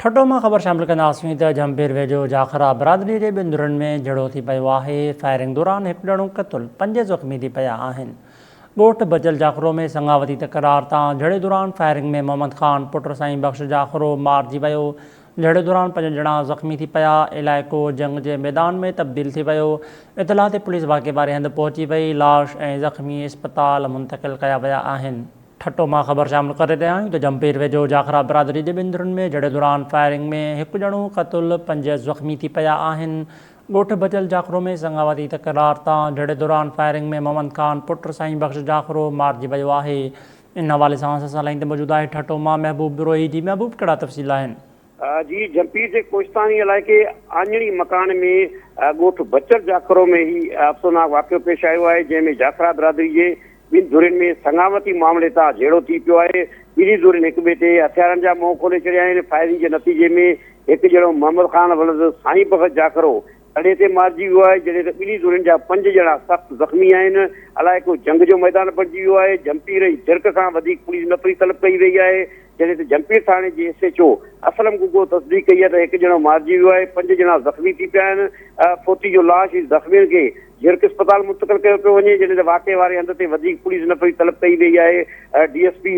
ٺٽو مان خبر شامل ڪنداسين ته جهمپير ويجهو جاکرا برادري جي ٻن ڌرين ۾ جهيڙو ٿي پيو آهي، فائرنگ دوران هڪ ڄڻو قتل پنج زخمي ٿي پيا آهن. ڳوٺ بچل جاکرو ۾ سڱاوتي تڪرار تان جهيڙي دوران فائرنگ ۾ محمد خان پٽ سائين بخش جاکرو مارجي ويو، جهيڙي دوران پنج ڄڻا زخمي ٿي پيا، علائقو جنگ جي ميدان ۾ تبديل ٿي ويو، اطلاع تي پوليس واقعي واري هنڌ پهچي وئي، لاش ۽ زخمي اسپتال منتقل ڪيا ويا آهن. ٺٽو مان خبر شامل ڪري رهيا آهيون ته جمپير ويجهو جاکرا برادري جي ٻن ڌرين ۾ جهيڙي دوران فائرنگ ۾ هڪ ڄڻو قتل پنج زخمي ٿي پيا آهن. ڳوٺ بچل جاکرو ۾ سڱاوتي تڪرار تان جهيڙي دوران فائرنگ ۾ محمد خان پٽ سائين بخش جاکرو مارجي ويو آهي. ان حوالي سان اسان سان لائين تي موجود آهي ٺٽو مان محبوب بروهي، جي محبوب ڪهڙا تفصيل آهن؟ جي جهمپير جي ڪوهستاني علائقي آڃڻي مڪان ۾ ڳوٺ بچڙ جاکرو ۾ هي افسوناڪ واقعو پيش آيو آهي جنهن ۾ جاکرا برادري جي ٻن ڌرين ۾ سڱامتي معاملي تان جهيڙو ٿي پيو آهي ٻنهي ڌرين هڪ ٻئي تي هٿيارن جا منهن کولي ڇڏيا آهن فائرنگ جي نتيجي ۾ هڪ ڄڻو محمد خان ولد سائين بخش جاکرو تڏهن تي مارجي ويو آهي، جڏهن ته ٻنهي ڌرين جا پنج ڄڻا سخت زخمي آهن، علائقو جنگ جو ميدان بڻجي ويو آهي، جهمپير ۽ جرڪ کان وڌيڪ پوليس نفري طلب ڪئي وئي آهي، جڏهن ته جهمپير ٿاڻي جي S H O Aslam Gaggo تصديق ڪئي آهي ته هڪ ڄڻو مارجي ويو آهي، پنج ڄڻا زخمي ٿي پيا آهن، فوتي جو لاش ۽ زخمين کي جرڪ اسپتال منتقل ڪيو پيو وڃي، جڏهن ته واقعي واري هنڌ تي وڌيڪ پوليس نفري طلب ڪئي وئي آهي، D S P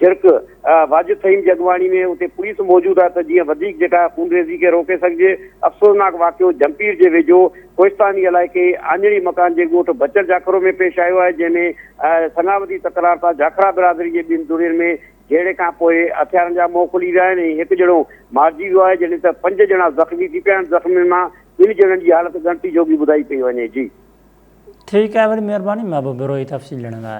Jhirk. Wajid Fahim جي اڳواڻي ۾ اتي پوليس موجود آهي ته جيئن وڌيڪ جيڪا خونريزي کي روڪي سگهجي، افسوسناڪ واقعو جهمپير جي ويجهو ڪوهستاني علائقي آڃڙي مڪان جي ڳوٺ بچل جاکرو ۾ پيش آيو آهي جنهن ۾ سڱاوتي تڪرار سان جاکرا برادري جي ٻن ڌرين ۾ جهيڙي کان پوء هٿيارن جا منهن کلي ويا آهن ۽ هڪ ڄڻو مارجي ويو آهي جڏهن ته پنج ڄڻا زخمي ٿي پيا آهن زخمين مان ٻن ڄڻن جي حالت ڳڻتي جوڳي ٻڌائي پئي وڃي جي. ٺيڪ آهي وڏي مهرباني محبوب بروهي تفصيل ڏيڻ لاء.